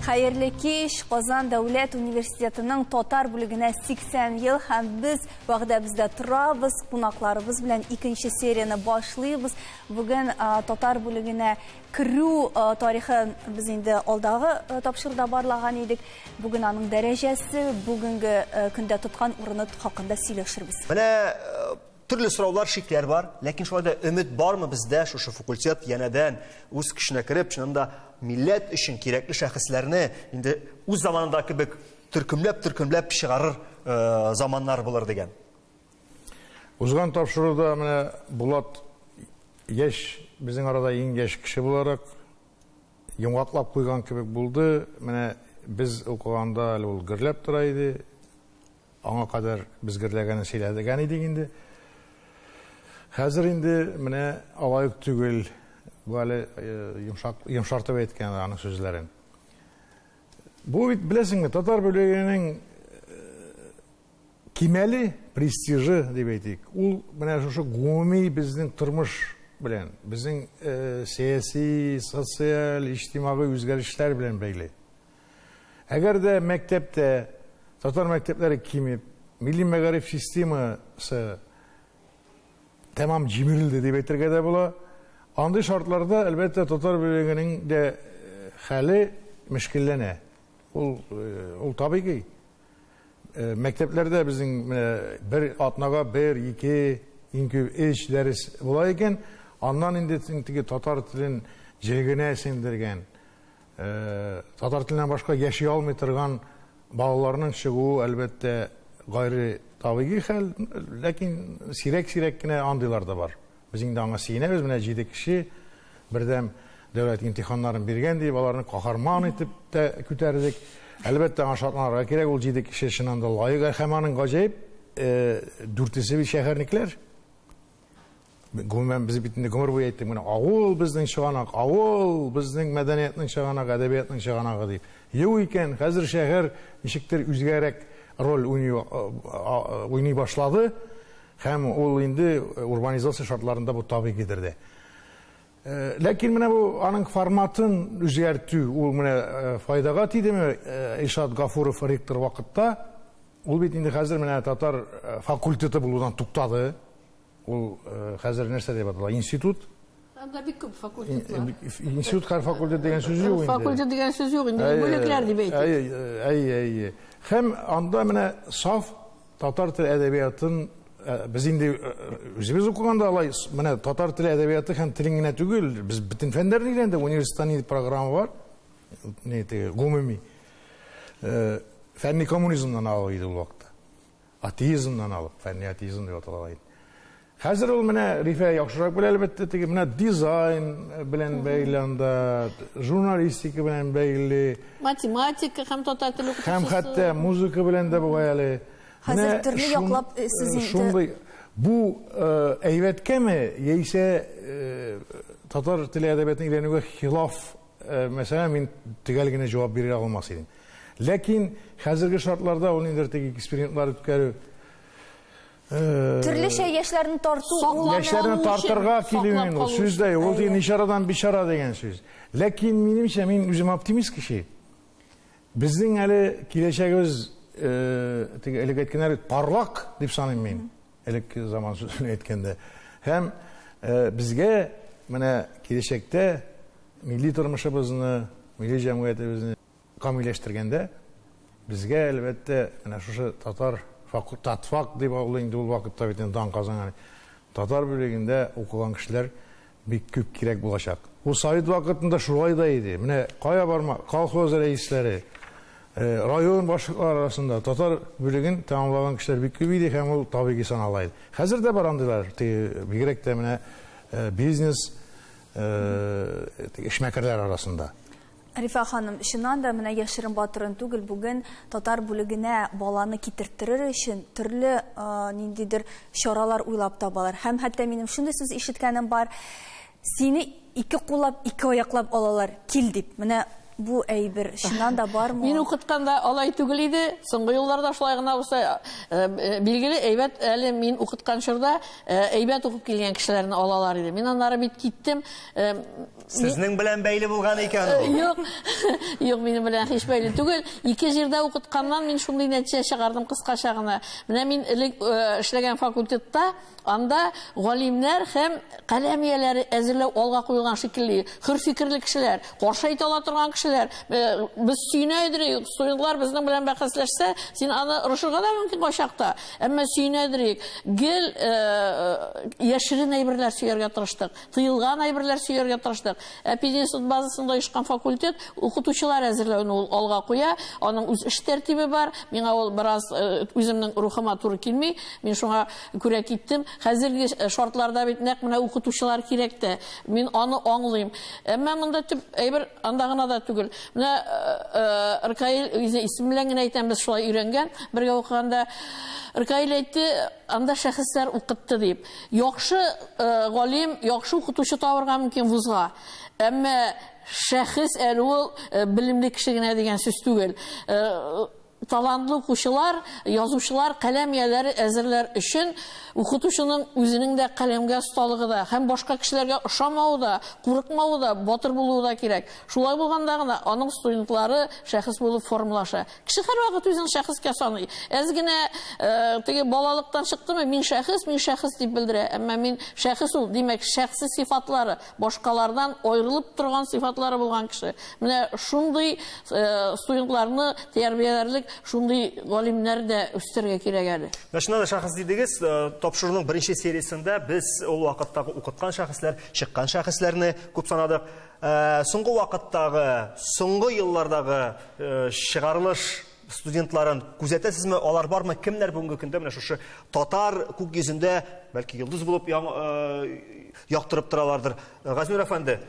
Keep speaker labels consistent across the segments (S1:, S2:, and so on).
S1: Хәерле кич, Казан дәүләт университетының татар бүлегенә 80 ел һәм без вәгъдәбездә торабыз, кунакларыбыз белән икенче серияне башлыйбыз. Бүген татар бүлегенә Керү тарихын без инде алдагы тапшыруда барлаган идек. Бүген аның дәрәҗәсе, бүгенге көндә тоткан урыны хакында сөйләшербез. Менә
S2: төрле сораулар, шикләр бар, ләкин шулай да өмет бармы бездә шушы факультет янәдән үз көченә кереп, чыннан да милләт өчен кирәкле шәхесләрне инде үз заманында кебек төркемләп-төркемләп чыгарыр заманнар булыр дигән.
S3: Узган тапшыруда менә Булат яшь, безнең арада иң яшь кеше буларак йомгаклап куйган кебек булды. Менә без укыганда әле ул гөрләп тора иде. Аңа кадәр без гөрләгәнен сөйләгән идек инде. Хәзер инде менә алай ук түгел. Бу әле йомшак, йомшартып әйткән аның сүзләрен. Бу бит, беләсеңме, татар бүлегенең Кимәле престижы, дип әйтик, ул менә шушы гомуми безнең тормыш белән, безнең сәяси, социаль, иҗтимагый үзгәрешләр белән бәйле. Әгәр дә мәктәптә татар мәктәпләре кимеп, милли мәгариф системасы тәмам җимерелде дип әйтергә дә була. Андый шартларда, әлбәттә, татар бүлегенең дә хәле мөшкилләнә. Ул, ул табигый. Мәктәпләрдә безнең менә бер атнага бер, ике, иң күп өч дәрес була икән. Аннан инде теге татар телен җегенә сеңдергән, татар теленнән башка яши алмый торган балаларның чыгуы, әлбәттә, гайре табигый хәл, ләкин сирәк-сирәк кенә андыйлар да бар. Без инде аңа сөенәбез, менә җиде кеше бердәм дәүләт имтиханнарын биргән дип, аларны каһарман итеп тә күтәрдек. Әлбәттә, аңа шатланырга кирәк, ул җиде кеше чыннан да лаек, һәм аның гаҗәеп дүртесе бит шәһәрнекләр. Гомумән, без бит инде гомер буе әйттек, менә авыл безнең чыганак, авыл безнең мәдәниятнең чыганагы, әдәбиятның чыганагы дип. Юк икән, хәзер шәһәр ничектер үзгәрәк роль уйный башлады. Һәм ул инде урбанизация шартларында бу табигыйдыр дә. Ләкин менә бу аның форматын үзгәртү, ул менә файдага тидеме? Илшат Гафуров ректор вакытта, ул бит инде хәзер менә татар факультеты булудан туктады. Ул хәзер нәрсә дип атала? Институт.
S4: Анда бик күп факультетлар. Институт һәр факультет
S3: дигән сүз юк инде. Факультет дигән сүз юк
S4: инде, бүлекләр дип әйтик. Әйе, әйе, әйе. Һәм
S3: анда менә саф татар теле әдәбиятын без инде үзебез укыганда алай менә татар теле әдәбияты һәм телен генә түгел, без бөтен фәннәрне өйрәндек, университетта программа бар. Ни теге гомуми. Фәнни коммунизмнан алып иде ул вакытта. Атеизмнан алып, фәнни атеизм дип атала иде. Хәзер ул менә Рифә яхшырак белә, әлбәттә, теге менә дизайн белән бәйле анда, журналистика белән бәйле. Математика
S4: һәм татар теле укытучысы. Һәм хәтта музыка
S3: белән дә бугай әле. Хәзер төрле
S1: яклап э, сез инде. Шундый бу
S3: э, әйбәткәме яисә э, татар теле әдәбиятын өйрәнүгә хилаф, мәсәлән, мин төгәл генә җавап бирә алмас идем. Ләкин хәзерге шартларда ул инде теге экспериментлар үткәрү
S1: Төрлечә яшьләрне тарту ул яшьләрне тартырга
S3: килү инде ул сүз дә ул дигән ишарадан бичара дигән сүз. Ләкин минемчә мин үзем оптимист кеше. Безнең әле киләчәгебез теге элек әйткәннәр парлак дип саныйм мин. Элек заман сүзен әйткәндә. Һәм безгә менә киләчәктә милли тормышыбызны, милли җәмгыятебезне Камилләштергәндә, безгә, әлбәттә, менә шушы татар факул, татфак дип ул инде ул вакытта бит инде дан казанган, татар бүлегендә укыган кешеләр бик күп кирәк булачак. Ул совет вакытында шулай да иде. Менә кая барма, колхоз рәисләре, район башлыклары арасында татар бүлеген тәмамлаган кешеләр бик күп иде һәм ул табигый санала иде. Хәзер дә бар андыйлар, теге бигрәк тә менә бизнес, теге эшмәкәрләр арасында. Рифа ханым,
S1: чыннан да, менә яшерен батырын түгел, бүген татар бүлегенә баланы китерттерер өчен төрле ниндидер чаралар уйлап табалар. Һәм хәтта минем шундый сүз ишеткәнем бар, сине ике куллап, ике аяклап алалар, кил дип. Менә бу әйбер чыннан да бармы ул? Мин укытканда алай
S4: түгел иде. Соңгы елларда шулай гына булса, билгеле, әйбәт әле мин укыткан чорда әйбәт укып килгән кешеләрне алалар иде. Мин аннары бит киттем.
S2: Сезнең белән бәйле булган икән ул. Э, юк,
S4: юк, минем белән һич бәйле түгел. Ике җирдә укытканнан мин шундый нәтиҗә чыгардым кыскача гына. Менә мин элек э, эшләгән факультетта, анда галимнәр һәм каләм ияләре әзерләү алга куелган шикелле. Хөр фикерле кешеләр, каршы әйтә ала торган кешеләр. Э, без сөенә идек, студентлар безнең белән бәхәсләшсә, син аны рушыга да мөмкин кайчакта. Әмма сөенә идек. Гел яшерен әйберләр сөяргә тырыштык. Тыелган әйберләр сөяргә тырыштык. Ә пединститут базасында оешкан факультет укытучылар әзерләүне ул алга куя. Аның үз эш тәртибе бар. Миңа ул бераз э, үземнең рухыма туры килми. Мин шуңа күрә киттем. Хәзерге э, шартларда бит нәкъ менә укытучылар кирәк тә. Мин аны аңлыйм. Әмма монда төп әйбер анда гына да түгел. Менә э, Ркаил үзе исем белән генә әйтәм, без шулай өйрәнгән. Бергә укыганда Ркаил әйтте, анда шәхесләр укытты дип. Яхшы галим, яхшы укытучы табырга мөмкин вузга. Әмма шәхес әле ул белемле кеше генә дигән сүз түгел. Талантлы укучылар, язучылар каләм ияләре әзерләр өчен укытучының үзенең дә каләмгә осталыгы да һәм башка кешеләргә ошамавы да, курыкмавы да, батыр булуы да кирәк. Шулай булганда гына аның студентлары шәхес булып формалаша. Кеше һәрвакыт үзен шәхескә саный. Әз генә э, теге балалыктан чыктымы, мин шәхес, мин шәхес дип белдерә. Әмма мин шәхес ул, димәк, шәхси сифатлары, башкалардан аерылып торган сифатлары булган кеше. Менә шундый э, студентларны тәрбияләрлек шундый галимнәр дә үстерергә кирәк әле. Менә шуннан шәхес дидегез,
S2: э, тапшыруның беренче сериясендә без ул вакыттагы укыткан шәхесләр, чыккан шәхесләрне күп санадык. Э, соңгы вакыттагы соңгы еллардагы э, чыгарылыш студентларын күзәтәсезме алар бармы кемнәр бүгенге көндә менә шушы татар күк йөзендә бәлки йолдыз булып э, яктырып торалардыр газинур әфәнде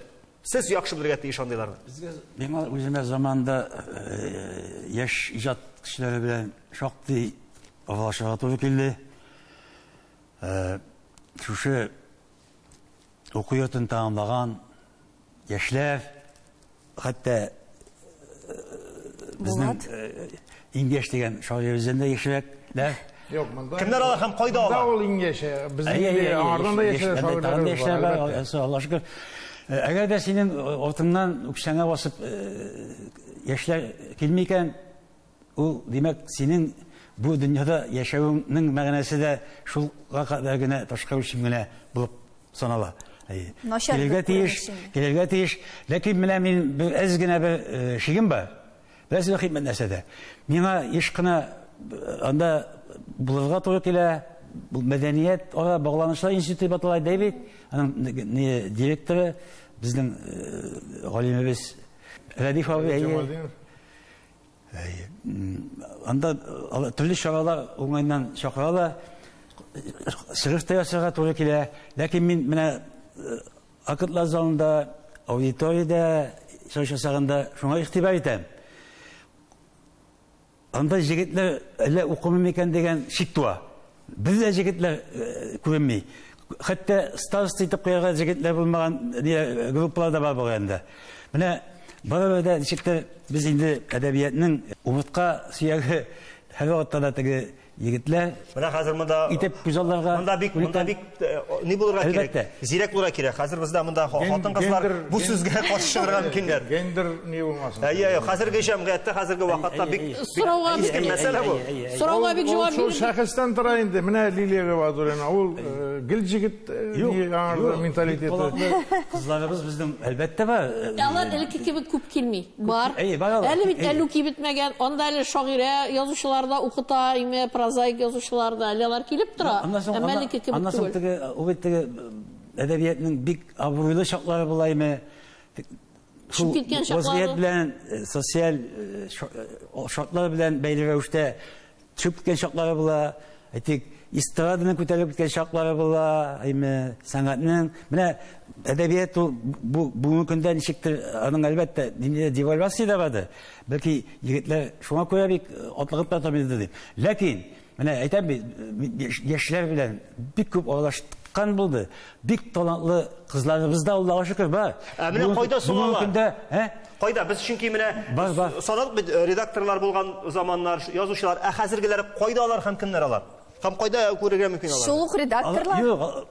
S2: сез яхшы белергә тиеш андыйларны безгә миңа үземә
S5: заманда яшь иҗат кешеләре белән шактый аралашырга туры килде шушы уку йортын тәмамлаган яшьләр, хәтта безнең иң яшь дигән шагыйребездән дә яшьрәк, дә. Юк, монда.
S3: Кемнәр алар һәм кайда алар?
S2: Монда ул иң яше.
S3: Безнең аңардан да яшьрәк шагыйрьләр бар. Аллаһ шөкер.
S5: Әгәр дә синең артыңнан үксәңә басып яшьләр килми икән, Ул, димәк, синең бу дөньяда яшәвеңнең мәгънәсе дә шулга кадәр генә ташка үлчим генә булып санала. Килергә тиеш, килергә тиеш. Ләкин менә мин бер әз генә бер э, шигем бар. Без рәхим нәрсәдә. Миңа еш кына э, анда булырга туры килә. Бу мәдәният ара багланышлар институты дип атала Дэвид, аның директоры безнең э, галимебез Рәдиф абый. Анда алар төрле чаралар уңайыннан чакыралар. Чыгыш та ясарга туры килә. Ләкин мин менә актлар залында, аудиториядә чыгыш ясаганда шуңа игътибар итәм. Анда җегетләр әллә укымыймы икән дигән шик туа. Без дә җегетләр күренми. Хәтта староста итеп куярга җегетләр булмаган группалар да бар бу районда. Менә барыбер дә ничектер без инде әдәбиятның умыртка сөяге һәрвакытта да теге егетләр. Менә хәзер монда
S2: итеп күзалларга монда
S5: бик монда бик
S2: Ни булырга кирәк? Әлбәттә. Зирәк булырга кирәк. Хәзер бездә монда хатын-кызлар бу сүзгә каршы чыгарга мөмкиннәр. Гендер ни булмасын.
S3: Әйе, әйе. Хәзерге җәмгыятьтә,
S2: хәзерге вакытта бик сорауга бик ким мәсьәлә бу. Сорауга бик җавап бирде.
S4: Шул шәхестән тора
S3: инде. Менә Лилия Габадуллина, ул э, гел җигет э, менталитеты.
S5: Кызларыбыз безнең әлбәттә бар. Алар элекке кебек
S4: күп килми. Бар. Әле бит әллү кибетмәгән. Анда әле шагыйрә язучылар да укыта, име, прозаик язучылар да. Әле алар килеп тора. Әмма әлеге кебек түгел. Аннан соң
S5: теге, ул бит теге әдәбиятның бик абруйлы чаклары була име. Шул вазгыять белән, социаль шартлар белән бәйле рәвештә Чыгып киткән чаклары була, әйтик, эстраданың күтәрелеп киткән чаклары була, әйме, сәнгатьнең. Менә әдәбият ул бу бүгенге көндә ничектер аның әлбәттә ниндидер девальвация дә бардыр. Бәлки егетләр шуңа күрә бик атлыгып та тормыйдыр дип. Ләкин менә әйтәм бит, яшьләр белән бик күп аралашкан булды. Бик талантлы кызларыбыз да Аллага шөкер бар. Ә менә Бүген- кайда соң Бүгенге
S2: алар? көндә, ә?
S5: Кайда? Без
S2: чөнки менә Бар, бар. санадык бит
S5: э, редакторлар
S2: булган заманнар, ш- язучылар, ә хәзергеләр кайда алар һәм кемнәр алар? Һәм кайда күрергә мөмкин алар? Шул ук Ал- редакторлар. Юк, ал-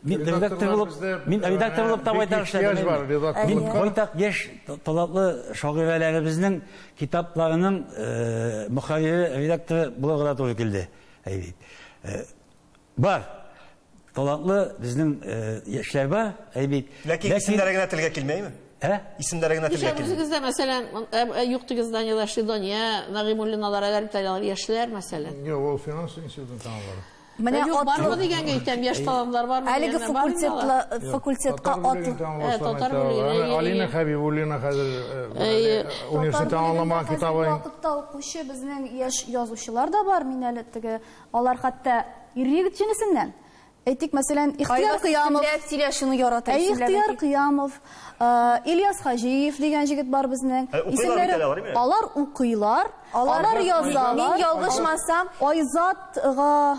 S2: мин
S1: редактор
S5: Редакторлар булып, бездә, мин э, редактор булып та бик байтак ихтыяҗ эшләдем. бар инде. редакторлыкка. Мин байтак яшь та- талантлы шагыйрәләребезнең китапларының э, мөхәррире, редакторы булырга да туры килде. Әйбит. Э, Бар. Талантлы безнең яшьләр бар, әй бит. Ләкин исемнәре
S2: генә телгә килмәйме? Ә? Исемнәре генә телгә килми. Үзегездә, мәсәлән,
S4: юк дигез Данилар Шидония, Нагыймуллиналар, әгәр бит алар яшьләр, мәсәлән. Юк, ул финанс
S3: институтын тәмамлады. Менә
S1: атлы дигәнгә
S4: әйтәм, яшь талантлар бармы? Әлеге факультетла
S1: факультетка атлы.
S4: Татар бүлегенә. Алина Хәбибуллина
S3: хәзер университет тәмамламаган китабы. Вакытта укучы
S1: безнең яшь язучылар да бар, мин әле теге Алар хәтта ир-егет җенесеннән. Әйтик, мәсәлән, Ихтыяр Кыямов. Кайбер сөйләшүне ярата. Ә Ихтыяр Кыямов, Ильяс Хаҗиев дигән җегет бар безнең. Исемнәре.
S2: Алар укыйлар,
S1: алар язалар. Мин ялгышмасам. Айзат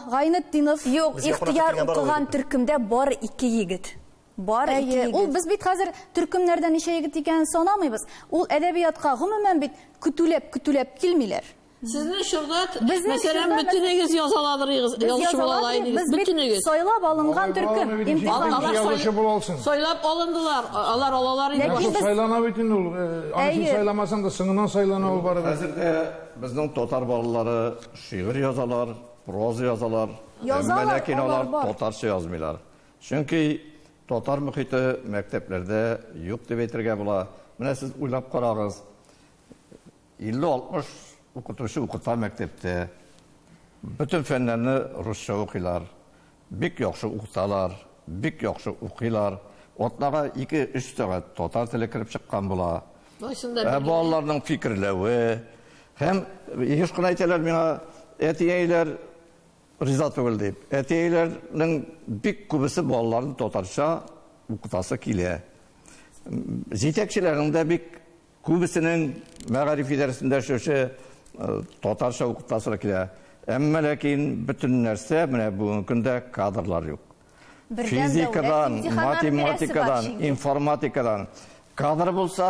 S1: Гайнетдинов. Юк, Ихтыяр укыган төркемдә бары ике егет. Бары ике егет. Ул без бит хәзер төркемнәрдә ничә егет икәнен санамыйбыз. Ул әдәбиятка гомумән бит көтүләп-көтүләп килмиләр. Сезне чордат,
S4: мәсәлән, бөтенегез язаладырыгыз, язучы була алайдыгыз. Без бөтенегез. Сайлап алынган
S1: төркем. Алар язучы була алсын. Сайлап
S4: алындылар, алар алалар инде. Ләкин сайлана бит инде ул.
S3: Аны сайламасаң да соңыннан сайлана ул барыбер. Хәзер дә безнең
S6: татар балалары шигырь язалар, проза язалар. Язалар, алар бар. Ләкин алар татарча язмыйлар. Чөнки татар мөхите мәктәпләрдә юк дип әйтергә була. Менә сез уйлап карагыз. 50-60 укытучы укыта мәктәптә. Бөтен фәннәрне русча укыйлар. Бик яхшы укыталар, бик яхшы укыйлар. Атнага ике-өч сәгать татар теле кереп чыккан була. Ә балаларның фикерләве һәм еш кына әйтәләр миңа, әти-әниләр риза түгел дип. Әти-әниләрнең бик күбесе балаларын татарча укытасы килә. Җитәкчеләрнең дә бик Күбесенең мәгариф идарәсендә шушы татарча укытасылар килә. Әмма ләкин бөтен нәрсә, менә бүгенге көндә кадрлар юк. Физикадан, математикадан, информатикадан кадр булса,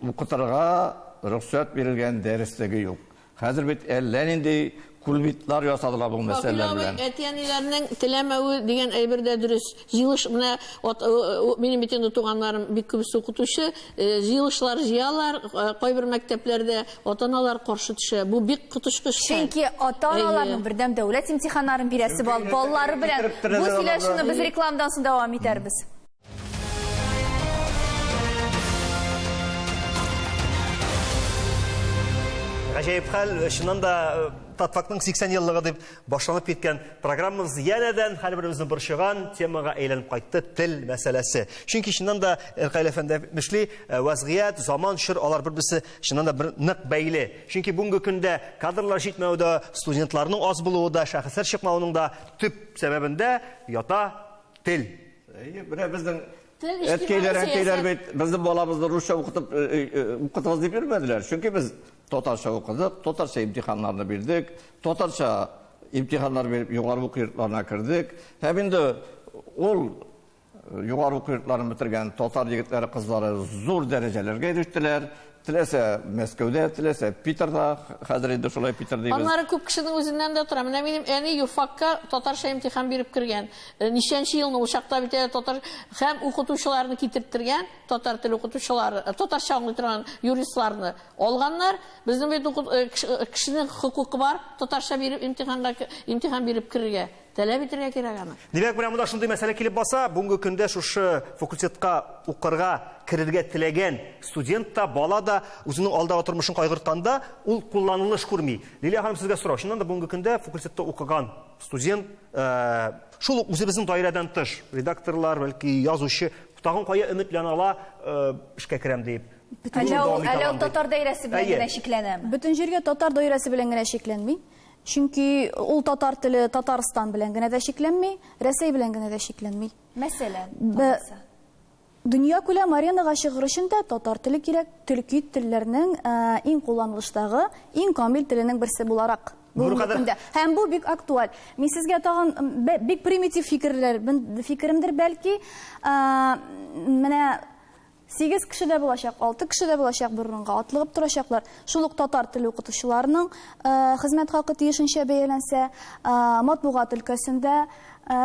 S6: укытырга рөхсәт бирелгән дәреслеге юк. Хәзер бит әллә нинди кульбитлар ясадылар бу мәсьәләләр белән. Әти-әниләрнең
S4: теләмәве дигән әйбер дә дөрес. Җыелыш менә минем бит инде туганнарым бик күбесе укытучы, җыелышлар җыялар, кайбер мәктәпләрдә ата-аналар каршы төшә. Бу бик коточкыч. Чөнки
S1: ата-аналарның бердәм дәүләт имтиханнарын бирәсе балалары белән бу сөйләшүне без рекламадан соң дәвам итәрбез.
S2: Гаҗәеп хәл, чыннан да э, Татфактның 80 еллыгы дип башланып киткән программабыз янәдән һәрберебезне борчыган темага әйләнеп кайтты тел мәсьәләсе. Чөнки чыннан да Элкайл әфәнде әйтмешли, э, вазгыять, заман, чор алар бер-берсе чыннан да бер нык бәйле. Чөнки бүгенге көндә кадрлар җитмәве дә, студентларның аз булуы да, шәхесләр чыкмавының да төп сәбәбендә ята Тел. Әйе, менә
S6: безнең Тел иҗтимагый әткәйләр, сәясәт. әнкәйләр бит безнең балабызны русча укытып э, э, э, укытыгыз дип йөрмәделәр. Чөнки без татарча укыдык, татарча имтиханнарны бирдек, татарча имтиханнар биреп югары уку йортларына кердек. Һәм инде ул э, югары уку йортларын бетергән татар егетләре, кызлары зур дәрәҗәләргә ирештеләр. Теләсә Мәскәүдә, теләсә Питерда, хәзер инде шулай Питер дибез. Аннары күп кешенең үзеннән
S4: дә тора. Менә минем әни юрфакка татарча имтихан биреп кергән. Э, ничәнче елны ул чакта бит әле татар һәм укытучыларны китертергән, татар теле укытучылары, э, татарча аңлый торган юристларны алганнар. Безнең бит э, кешенең хокукы бар татарча биреп имтиханга имтихан биреп керергә. Таләп итәргә кирәк аны. Димәк, менә монда шундый мәсьәлә
S2: килеп баса, бүгенге көндә шушы факультетка укырга керергә теләгән студент та, бала да үзенең алдагы тормышын кайгыртканда, ул кулланылыш күрми. Лилия ханым, сезгә сорау. Чыннан да бүгенге көндә факультетта укыган студент, э, шул ук үзебезнең даирәдән тыш, редакторлар, бәлки язучы, тагын кая өметләнә ала, э, эшкә керәм дип. Әллә ул, әллә ул
S1: татар даирәсе белән генә чикләнәме? Бөтен җиргә татар
S7: даирәсе белән генә чикләнми. Чөнки ул татар теле Татарстан белән генә дә чикләнми, Рәсәй белән генә дә чикләнми. Мәсәлән, алайса. Дөнья күләм аренага чыгыр өчен дә татар теле кирәк, төрки телләрнең иң кулланылыштагы, иң камил теленең берсе буларак бүгенге көндә. Һәм бу бик актуаль. Мин сезгә тагын бик примитив фикерләр, фикеремдер бәлки, менә Сигез кеше дә булачак, алты кеше дә булачак, бер урынга атлыгып торачаклар. Шул ук татар теле укытучыларының хезмәт хакы тиешенчә бәяләнсә, матбугат өлкәсендә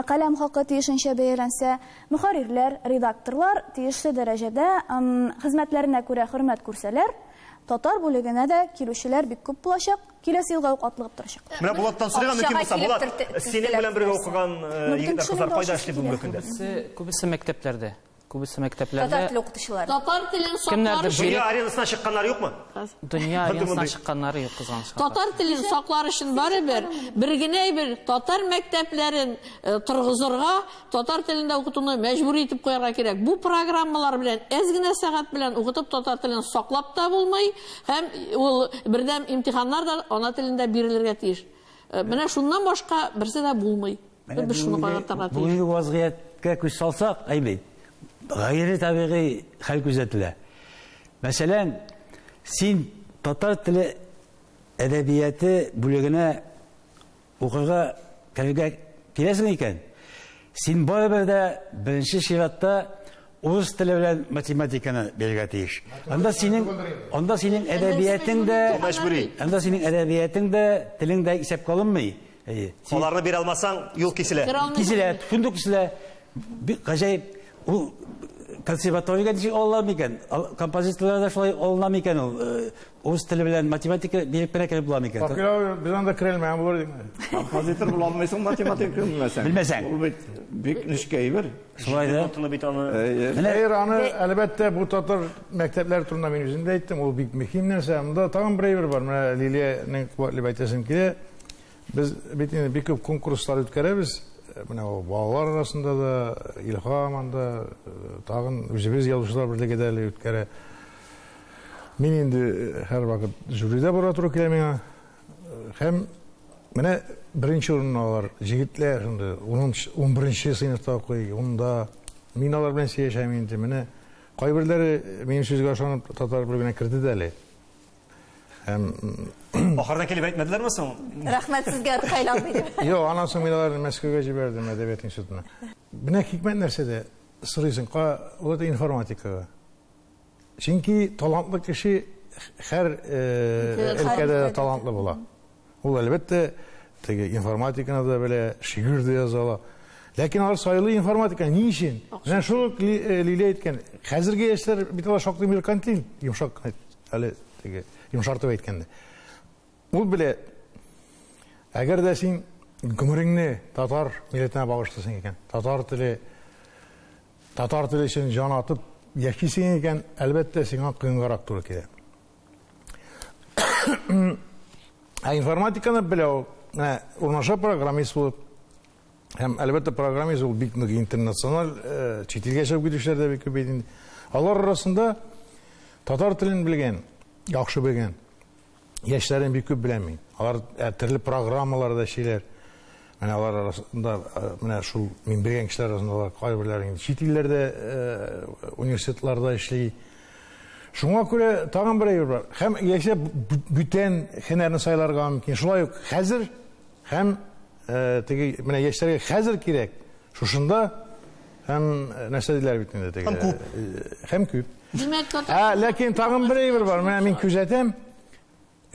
S7: каләм хакы тиешенчә бәяләнсә, мөхәррирләр, редакторлар тиешле дәрәҗәдә хезмәтләренә күрә хөрмәт күрсәләр, татар бүлегенә дә килүчеләр бик күп булачак, киләсе елга ук атлыгып торачак. Менә Булаттан сорыйга мөмкин
S2: булса, Булат, синең белән бергә укыган егетләр, кызлар кайда эшли бүгенге көндә? Күбесе мәктәпләрдә.
S8: Күбесе мәктәпләрдә...
S1: Татар теле укытучылары.
S4: Татар телен саклар өчен... Дөнья аренасына чыкканнар
S2: юкмы? Дөнья аренасына
S8: чыкканнар юк, кызганыч. Татар телен саклар
S4: өчен бары бер, бер генә әйбер, татар мәктәпләрен торгызырга, татар телендә укытуны мәҗбүри итеп куярга кирәк. Бу программалар белән әз генә сәгать белән укытып татар телен саклап та булмый, һәм ул бердәм имтиханнар да ана телендә бирелергә тиеш. Менә шуннан башка берсе дә булмый. Менә без шуны каратырга тиеш. Бүгенге вазгыятькә
S5: күз салсак, әйбәт. Гайре табигый хәл күзәтелә. Мәсәлән, син татар теле әдәбияты бүлегенә укырга керергә киләсең икән, син барыбер дә беренче чиратта урыс теле белән математиканы бирергә тиеш. Анда синең анда синең әдәбиятең дә мәҗбүри. Анда синең әдәбиятең дә, телең дә исәпкә алынмый. Әйе. Аларны бирә
S2: алмасаң, юл киселә. Киселә, фундук
S5: киселә. Бик гаҗәеп. Ул консерваториягә ничек алалар микән? Композиторлар да шулай алына микән ул? Э, урыс теле белән математика биреп кенә кереп була микән? Факел без анда керә
S3: алмаем булыр диме? Композитор була
S6: алмыйсың математика белмәсәң. Белмәсәң. Ул бит бик
S5: нечкә
S6: әйбер. Шулай да. Тотыны
S5: бит аны. Менә
S3: аны әлбәттә бу татар мәктәпләре турында мин үзем дә әйттем, ул бик мөһим нәрсә. Монда тагын бер әйбер бар. Менә Лилиянең куәтле әйтәсем килә. Без бит инде бик күп конкурслар үткәрәбез. Менә ул балалар арасында да, Илһам анда, тагын үзебез язучылар берлеге дә әле үткәрә. Мин инде һәрвакыт жюридә бара туры килә миңа. Һәм менә беренче урынны алар, җегетләр шундый, унберенче сыйныфта укый, унда. Мин алар белән сөйләшәм инде, менә кайберләре минем сүзгә ышанып татар бүлегенә керде дә әле. Һәм
S2: Ахырда килеп әйтмәделәрме соң? Рәхмәт сезгә
S1: Кайланбый дип. Юк, аннан соң мин аларны
S3: Мәскәүгә җибәрдем әдәбият институтына. Менә хикмәт нәрсәдә сорыйсың, ка вот информатикага. Чөнки талантлы кеше һәр э, өлкәдә талантлы була. Ул әлбәттә теге информатиканы да белә, шигырь дә яза ала. Ләкин алар сайлый информатика ни өчен? Менә шул э, Лилия әйткән. Хәзерге яшьләр бит алар шактый меркантил, йомшак кына әйтеп. Әле теге йомшартып әйткәндә. Ул белә, әгәр дә син гомереңне татар милләтенә багышлыйсың икән, татар теле, татар теле өчен җан атып яшисең икән, әлбәттә, сиңа кыенгарак туры килә. Ә информатиканы беләү, менә урнаша программист булып, Һәм, әлбәттә, программист ул бик нык интернациональ, э, чит илгә чыгып китүчеләр дә бик күп бит инде. Алар арасында татар телен белгән, яхшы белгән яшьләрен бик күп беләм мин. Алар ә, төрле программаларда эшлиләр. Менә алар арасында э, менә шул мин белгән кешеләр арасында алар кайберләре инде чит илләрдә э, университетларда эшли. Шуңа күрә тагын бер әйбер бар. Һәм яшьләр б- б- бүтән һөнәрне сайларга мөмкин. Шулай ук хәзер Һәм теге менә яшьләргә хәзер кирәк, шушында һәм нәрсә диләр бит инде теге. Һәм күп. Һәм күп. Димәк, ә ләкин тагын бер әйбер бар. Менә мин күзәтәм.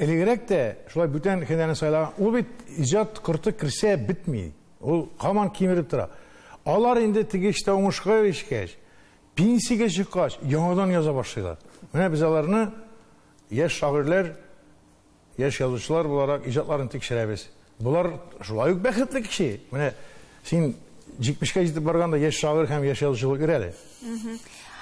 S3: Элегрәк тә шулай бүтән хәнәне сайлаган. Ул бит иҗат корты керсә бетми. Ул каман кимереп тора. Алар инде теге эштә уңышка ирешкәч, пенсиягә чыккач, яңадан яза башлыйлар. Менә без аларны яшь шагыйрьләр Яшь язучылар буларак иҗатларын тикшерәбез. Болар шулай ук бәхетле кеше. Менә син җитмешкә җитеп барганда яшь шагыйрь һәм яшь язучы булып йөр әле.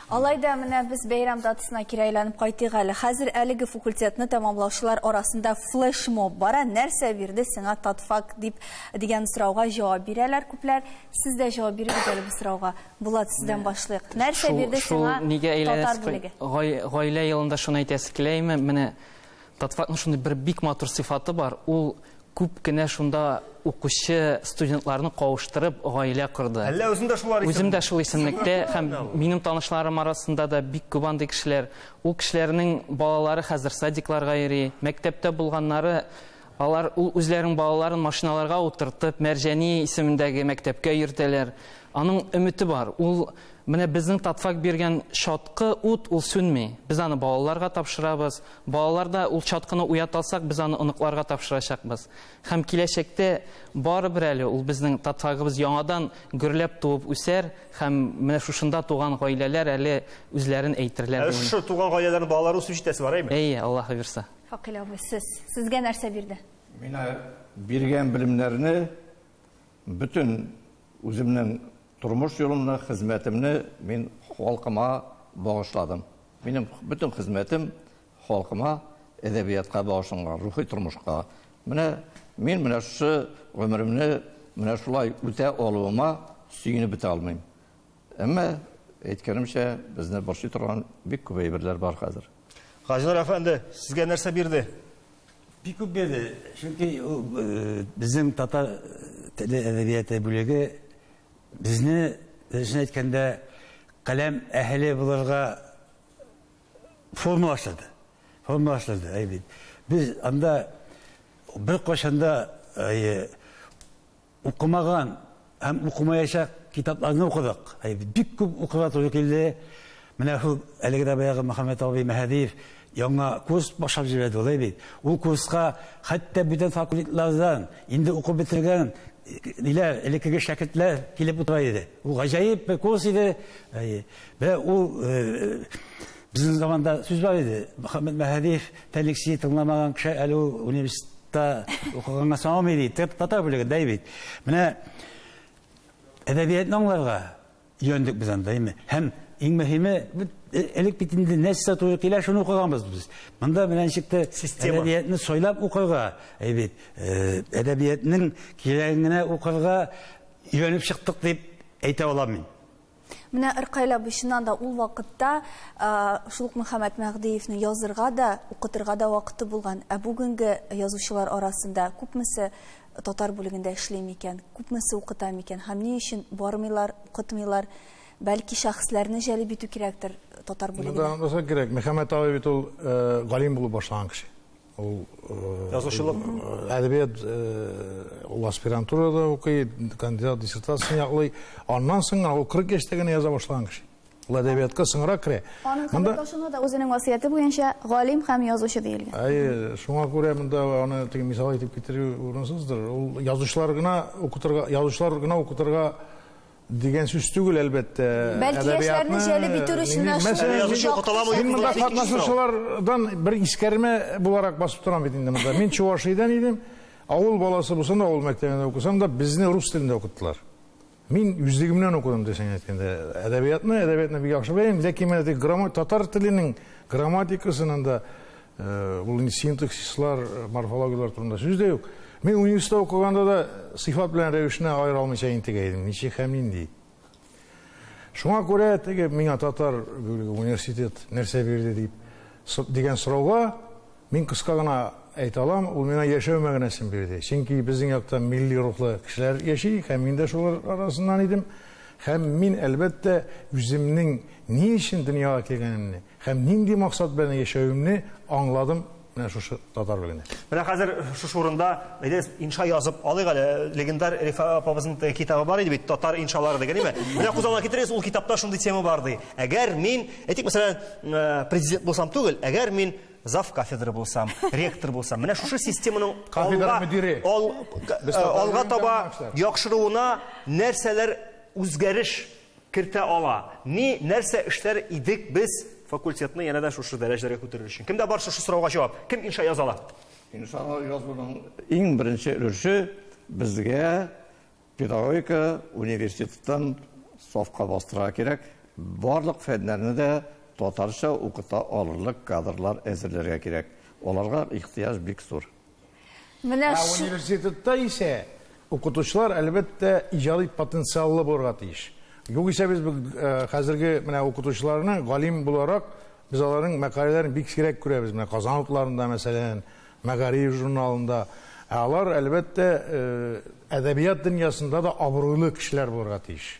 S3: Алай
S1: да менә без бәйрәм датасына кире әйләнеп кайтыйк әле. Хәзер әлеге факультетны тәмамлаучылар арасында флешмоб бара. Нәрсә бирде сиңа татфак дип дигән сорауга җавап бирәләр күпләр. Сез дә җавап бирегез әле бу сорауга. Булат, сездән башлыйк. Нәрсә бирде сиңа татар бүлеге? Гаилә
S8: елында шуны әйтәсе килә име? Менә Татфакның шундый бер бик матур сыйфаты бар, ул күп кенә шунда укучы студентларны кавыштырып, гаилә корды. Әллә үзең дә шулар исемлектә? Үзем
S2: дә шул исемлектә
S8: һәм минем танышларым арасында да бик күп андый кешеләр. Ул кешеләрнең балалары хәзер садикларга йөри, мәктәптә булганнары Алар үзләренең балаларын машиналарга утыртып, Мәрҗани исемендәге мәктәпкә йөртәләр. Аның өмете бар. Ул, менә безнең Татфак биргән чаткы ут, ул сүнми. Без аны балаларга тапшырабыз. Балалар да ул чаткыны уята алсак, без аны оныкларга тапшырачакбыз. Һәм киләчәктә барыбер әле ул безнең Татфагыбыз яңадан гөрләп туып үсәр һәм менә шушында туган гаиләләр әле үзләрен әйтерләр, дип уйлыйм. Ә шушы туган гаиләләрнең
S2: балалары үсеп җитәсе бар, әйеме? Әйе, Аллаһы бирса.
S8: Факил абый, сез,
S1: сезгә нәрсә бирде? Мина
S6: биргән белемнәрне бөтен үземнең тормыш юлымны, хезмәтемне мин халкыма багышладым. Минем бөтен хезмәтем халкыма, әдәбиятка багышланган, рухи тормышка. Менә мин менә шушы гомеремне менә шулай үтә алуыма сөенеп бетә алмыйм. Әмма, әйткәнемчә, безне борчый торган бик күп әйберләр бар хәзер. Хаҗилар әфәнде,
S2: сезгә нәрсә бирде? Бик күп
S5: бирде. Чөнки э, безнең татар теле әдәбияты бүлеге безне, дөресен әйткәндә, каләм әһеле булырга формалаштырды. Формалаштырды, әй бит. Без анда бер кашында э, Укымаган һәм укымаячак китапларны укыдык. Бик күп укырга туры килде. Менә шул әлеге дә баягы Мөхәммәт абый Мәһәдиев яңа курс башлап җибәрде алай бит. Ул курска хәтта бүтән факультетлардан инде укып бетергән ниләр, элеккеге шәкертләр килеп утыра иде. Ул гаҗәеп бер курс иде. Менә ул Безнең заманда сүз бар иде. Мөхәммәд Мәһәдиев Тәлексине тыңламаган кеше әле ул университетта укыганга саналмый ди. Татар бүлеге дәй бит. Менә әдәбиятны аңларга өйрәндек без анда, әйме. Һәм иң мөһиме, э, элек бит инде нәрсә туры килә, шуны укыганбыз без. Монда менә ничек тә әдәбиятны сайлап укырга, әй бит, э, әдәбиятның кирәген генә укырга өйрәнеп чыктык дип әйтә алам мин. Менә Ркаил
S1: абый чыннан да ул вакытта шул ук Мөхәммәд Мәгъдиевнең язырга да, укытырга да вакыты булган. Ә бүгенге язучылар арасында күпмесе татар бүлегендә эшли микән, күпмесе укыта микән һәм ни өчен бармыйлар, укытмыйлар? Бәлки шәхесләрне җәлеп итү кирәктер татар бүлегенә? Монда онытмаска кирәк, Мөхәммәд
S3: абый бит ул галим булып башлаган кеше. Ул язучылык
S2: әдәбият
S3: ул аспирантурада укый, кандидат диссертациясен яклый. Аннан соң гына ул 40 яшьтә генә яза башлаган кеше. Ул әдәбиятка соңрак керә. Аның хәбәрдашына
S7: да үзенең васыяте буенча галим һәм язучы диелгән. Әйе, шуңа күрә
S3: монда аны теге мисал итеп китерү урынсыздыр. Ул язучылар гына укытырга, язучылар гына укытырга Дигән сүз түгел, әлбәттә. Бәлки
S1: яшьләрне җәлеп итү өчен дә шул. Мин
S3: монда катнашучылардан бер искәрмә буларак басып торам бит инде монда. Мин Чувашиядән идем. Авыл баласы булсам да, авыл мәктәбендә укысам да, безне рус телендә укыттылар. Мин үзлегемнән укыдым, дөресен әйткәндә. Әдәбиятны, әдәбиятны бик яхшы беләм, ләкин менә теге татар теленең грамматикасының да Э, ул инде синтаксислар э, морфологиялар турында сүз дә юк мин университетта укыганда да сыйфат белән рәвешне аера алмыйча интегә идем ничек һәм нинди шуңа күрә теге миңа татар университет нәрсә бирде дип дигән сорауга мин кыска гына әйтә алам ул миңа яшәү мәгънәсен бирде чөнки безнең якта милли рухлы кешеләр яши һәм мин дә шулар арасыннан идем һәм мин әлбәттә үземнең ни өчен дөньяга килгәнемне Һәм нинди максат белән яшәвемне аңладым менә шушы татар белән. Менә хәзер шушы
S2: урында әйдәгез инша язып алыйк әле. Легендар Рифа апабызның китабы бар иде бит, татар иншалары дигән, әйме? Менә күз алдына китерегез, ул китапта шундый тема бар ди. Әгәр мин, әйтик, мәсәлән, э, президент булсам түгел, әгәр мин зав кафедра булсам, ректор булсам, менә шушы системаның кафедра мөдире алга э, таба яхшыруына нәрсәләр үзгәреш кертә ала. Ни, нәрсә эшләр идек без факультетны янә дә шушы дәрәҗәләргә күтәрер өчен? Кемдә бар шушы сорауга җавап? Кем инша яза ала? Иншага
S6: язуның иң беренче өлеше безгә педагогика университетын сафка бастырырга кирәк. Барлык фәннәрне дә татарча укыта алырлык кадрлар әзерләргә кирәк. Аларга ихтыяҗ бик зур. Менә
S1: шу... Университетта
S3: исә укытучылар, әлбәттә, иҗади потенциаллы булырга тиеш. Югыйсә без хәзерге менә укытучыларны галим буларак, без аларның мәкаләләрен бик сирәк күрәбез. Менә Казан утларында, мәсәлән, Мәгариф журналында. Ә алар, әлбәттә, әдәбият дөньясында да абруйлы кешеләр булырга тиеш.